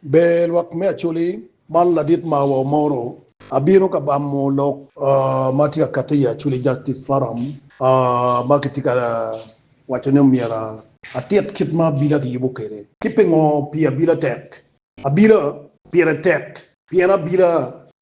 Ber lwak me Acholi, man ladit ma wa omoro. Abino ka bamo lok ma tye ka katte i Acholi Justice Forum ma kitye ka waco ni myero atit kit ma abila kiyubo kwede ki pingo pi abila tek. Abila pire tek pien abila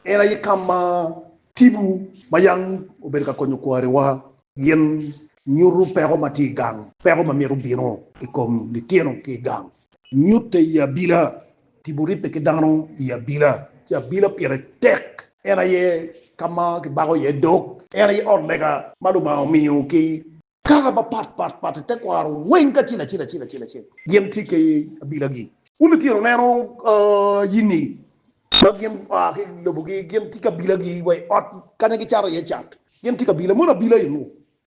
en aye ka ma tipo ma yam obedo ka konyo kwariwa gin nyuto peko ma tye i gang, peko ma myero bino i kom litino ki i gang. Nyutte i abila. Tipo ribbe ki dano i abila. Ci abila pire tek. En aye ka ma kibako iye dog. En aye ot lega ma Lubanga omiyo ki. Kare mapat pat pat i tekwaro weng kacel acel acel acel acel gin tye ki abilagi. Wun litino neno yinni ma gin gua ki lobogi gin tye ki abilagi wa i ot kanya gicato iye cat gin tye ki abila mono abila eno.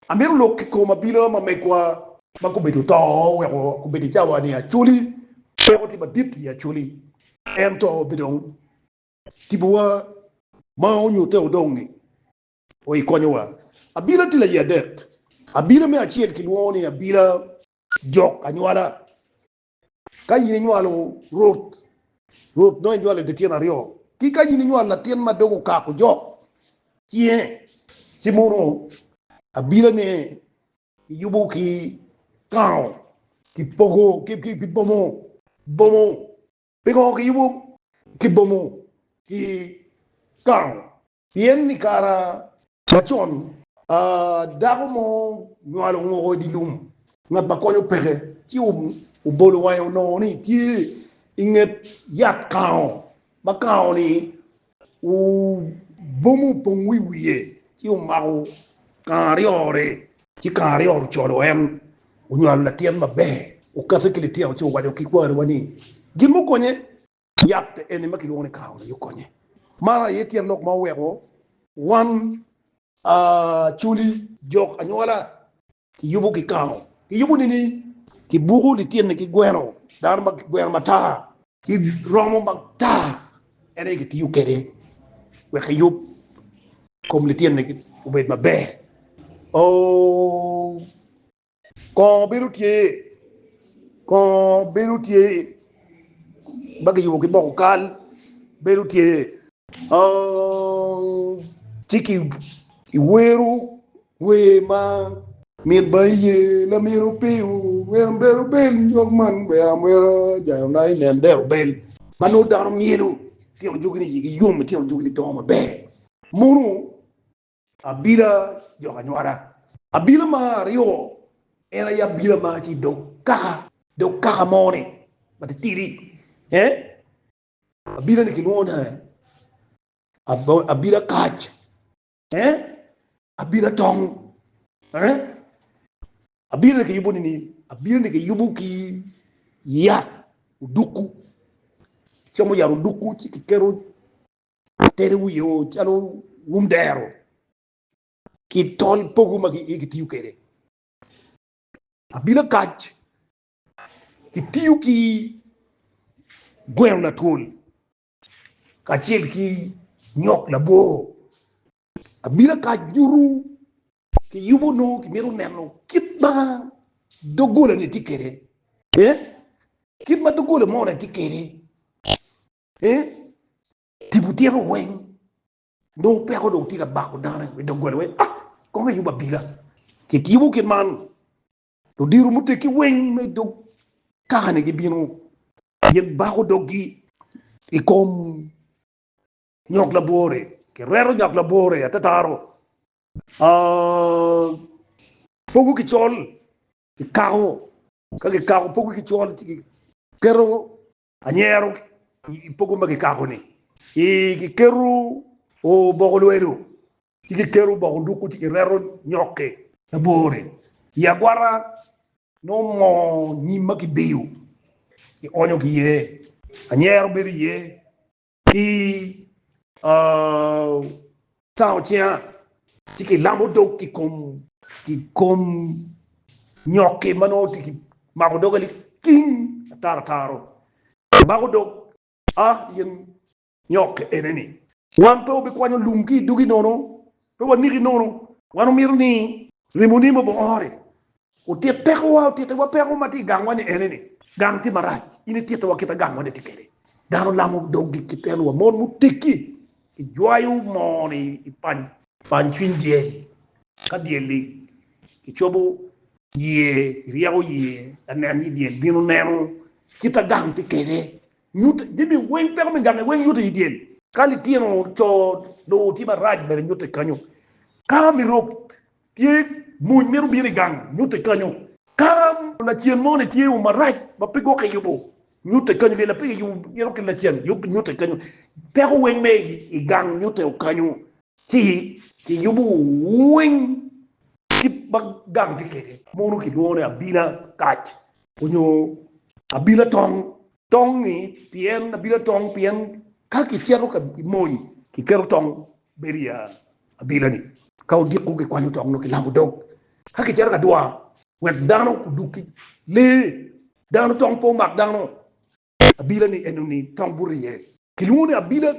Amito lok i kom abila ma megwa. Ma gubedo oto weko gubedo i cawa-ni Acholi. Peko tye madit i Acholi, ento pe dong tipowa ma onyutte odong-ngi o i konyowa. Abila tye laye adek. Abila me acel kilwongo ni abila jok anywala, Ka in inywalo rot, rot nongo inywalo dye tyen aryo. Ki ka in inywalo latin ma doge okako jok cinge, ci mono abilane kiyubo ki kango, kipogo ki bomo, bomo. Pingo kiyubo ki bomo ki kango? Pien i kare macon, dako mo nywalo ngoko i dye lum, ngat ma konyo peke, ci obolo wange onongo ni tye i nget yat kango, ma kango-ni obomo opong wi wiye, ci omako kango aryo-ri, ci kango aryo-ri ocolo en, onywalo latin maber, okate ki litino ci owaco ki kwariwa ni, Gin mukonye. Yat eni ma kilwongo ni kawa aye okonye. Man aye tyen lok ma oweko wan Acholi jok anywola kiyubo ki kawa. Kiyubo nini? Kibuko lityenni ki gweno, dano ma gweno matar ki romo matar en aye kitiyo kwede wek eyub kom lityenni obed maber. Oo! Kongo bedo tye, kongo bedo tye ma kiyubo ki boko kal bedo tye. Ci ki i wero wer ma. Mit ba iye lamino piyo wer amber obel nyog man wer amwera jalo na inen der obel. Ma nongo dano myelo tino jogi ni yigi yom, itino jogi ni dongo maber. Mono Abila jok anywala. Abila ma aryo en aye abila ma ci dog kaka dog kaka mo ni ma titidi eh abila ni kilwongo ni abila kac eh abila tong eh abila ni kiyubo nini abila ni kiyubo ki yat oduku como yat oduku ci kiketo Ateri wiye o calo wum dero ki tol pogo ma kitiyo kwede. Abila kac kitiyo ki gweno latwol kacel ki nyok labor. Abila kac nyuto kiyubo nongo kimito neno kit ma doggola ni tye kwede, kit ma doggola moni tye kwede. Eh? Tipo tyeko weng. Nongo peko dong tye ka bako dano i doggola weng. Ah, kong ayub abila. Kitibo kit man. Ludiro muteggi weng me dog kakani gibino gin bako doggi i kom nyok labwore. Kireto nyok labwore atataro. Ah, pogo ki col, kikako. Ka kikako pogo ki col ci kiketo Anyero i pogo ma kikako-ni, kiketo oboko lwedo, ci kiketo oboko duku, ci kireto nyoki labor-ri i agwata nongo moo nyim ma kibiyo kionyo ki iye. Anyero bedo iye ki tango cinga ci ki lamo dog ki kom nyoki ma nongo tye ki mako doga liking ataro ataro mako dog a in nyoki eni ni wan pe wabikwanyo lum ki i dugi nono pe waniki nono wan omito ni remo ni mogo ore Otit pekowa, otittiwa peko ma tye i gangwa ni ene ni, gang tye marac, in itittiwa kit ma gangwa ni tye kwede. Dano lamo doggi ki telowa, mon muteggi gijwayo moo ni i pany. Pany cwiny dyel, ka dyel lig, icobo yie, iryeko yie lanen ni dyel bino neno kit ma gang tye kwede. Nyut jami weng, peko me gangi weng nyuto i dyel. Ka litino co dong tye marac bene nyutte kenyo. Ka mi rok Tye mony mito bino i gang, nyutte kanyo. Ka lacen mo ni tye o marac ma pe gwok kiyubo, nyutte kanyo. Pien lapege yubo mito ki lacen, nyutte kanyo. Peko weng me i gang, nyutte o kanyo. Ci kiyubo weng kit ma gang tye kede. Mono kilwongo ni abina kac onyo abina tong. Tong-ngi pien abino atong, pien ka kicito ka mony, kiketo tong bedo i abila-ni. Ka odiko, kikwanyo tong nongo kilamo dog, ka kicito ka dwar, wek dano odug ki lee dano. Tong pe omak dano abila-ni, enoni tong buto iye. Kilwongo ni abila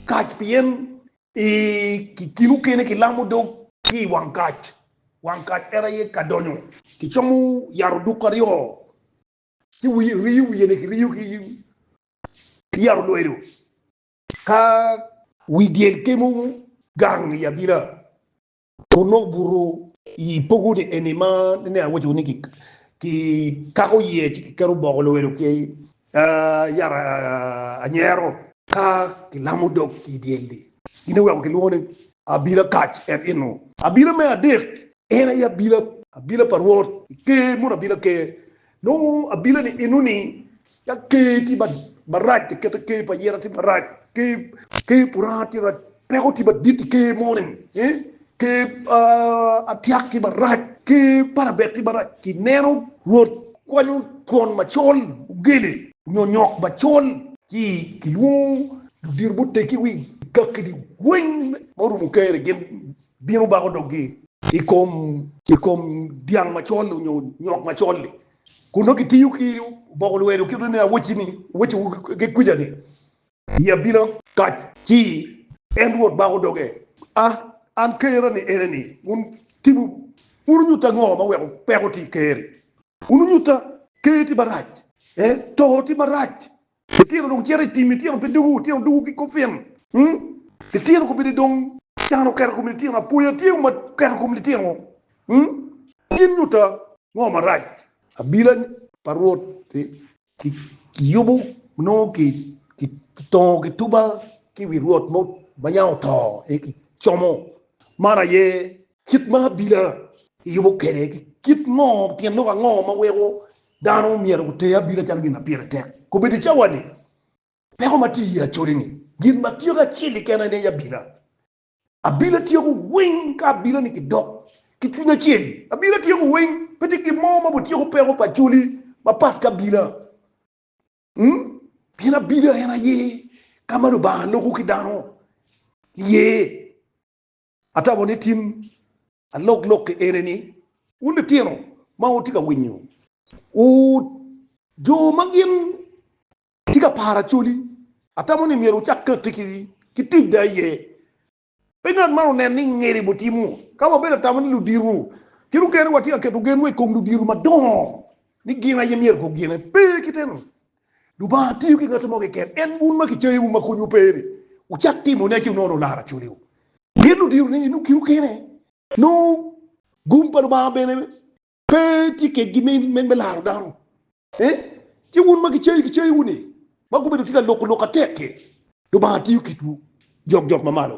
kac pien i kin okene kilamo dog ki i wang kac. Wang kac en aye ka donyo. Kicomo yat oduk aryo ci riyo wiyene kiriyo ki yabo lwedo ka wi dyel kemo gang i abila kun nongo obuto i pogone eni ma nene awaco ni kikako iye ci kiketo boko lwedo ki yat anyero. Ka kilamo dog i dyel-li, gin iweko kilwongo ni abila kac, et inu. Abila me adek En aye abila, abila pa Rwot, i Ker mono abila Ker. Nongo abila-ni enoni, ka Ker tye marac, kikete Ker pa Yera tye marac, Ker Puranga tye marac, peko tye madit i Ker moni, Ker Atiak tye marac, Ker Parabet tye marac. Ineno, Rwot kwanyo twon macol ogele, nyo nyok macol. Ci kilwongo ludito muteggi wi kaki-ni weng ma orumo Ker-ri, gin bino bako doggi. I kom, i kom dyang macol-li onyo nyok macol-li, kun nongo kitiyo ki oboko lwedo kit me awoci ni, Awoci wagi kuca ni, I abila kac. Ci en Rwot bako doge, A, an Kerra ni ene ni, wun tipo, wun wunyutta ngo ma weko peko tye i Ker-ri? Wun wunyutta, Ker tye marac, ee, to tye marac, Litino dong cito i tim, litino pe dugu, litino dugu ki kopin. Litino kobedi dong can oketo i kom litino, apoya tye ma oketo i kom litino. Gin nyuta ngo marac? Abila pa Rwot kiyubo nongo kitongo kituba ki wi Rwot ma yam oto, aye kicomo. Man aye Kit ma abila yubo kwede ki kit ngo? Tyen lok ango ma weko dano myero gute abila calo gin ma pire tek? Kobedo i cawani, peko ma tye iye acoli-ni, gin ma tyeko acel keken aye aye abila. Abila tyeko weng ka abila-ni kidok ki cwiny acel. Abila tyeko weng, pe tye gin mo ma otyeko peko pa acoli mapat ki abila. Ung? Pien abila en aye ka ma Lubanga loko ki dano iye. Atamo ni tin aloklokke ene ni, wun litino ma wutye ka winyo, wu jo ma gin tye ka paro Acholi, atamo ni myero wucak katti ki tic da aye. Pe ngat man onen ni ngeri butimo. Ka wabedo atamo ni ludito, gin okene watye ka keto genwa i kom ludito madongo ni gin aye myero gugine. Pe kite-nu! Lubanga tiyo ki ngat mo keken. En wun ma kicayiwu ma konywu pe-ni, wucak timone ci wunono lar acoliwu. Pien ludiro ni inu kiru kene, nongo gum pa Lubanga bene pe tye kedgi me laro dano. Ci wun ma kicayi kicayiwu-ni, ma gubedo tye ka loko lok atek-ki, Lubanga tiyo kitwu jokjok mamalo.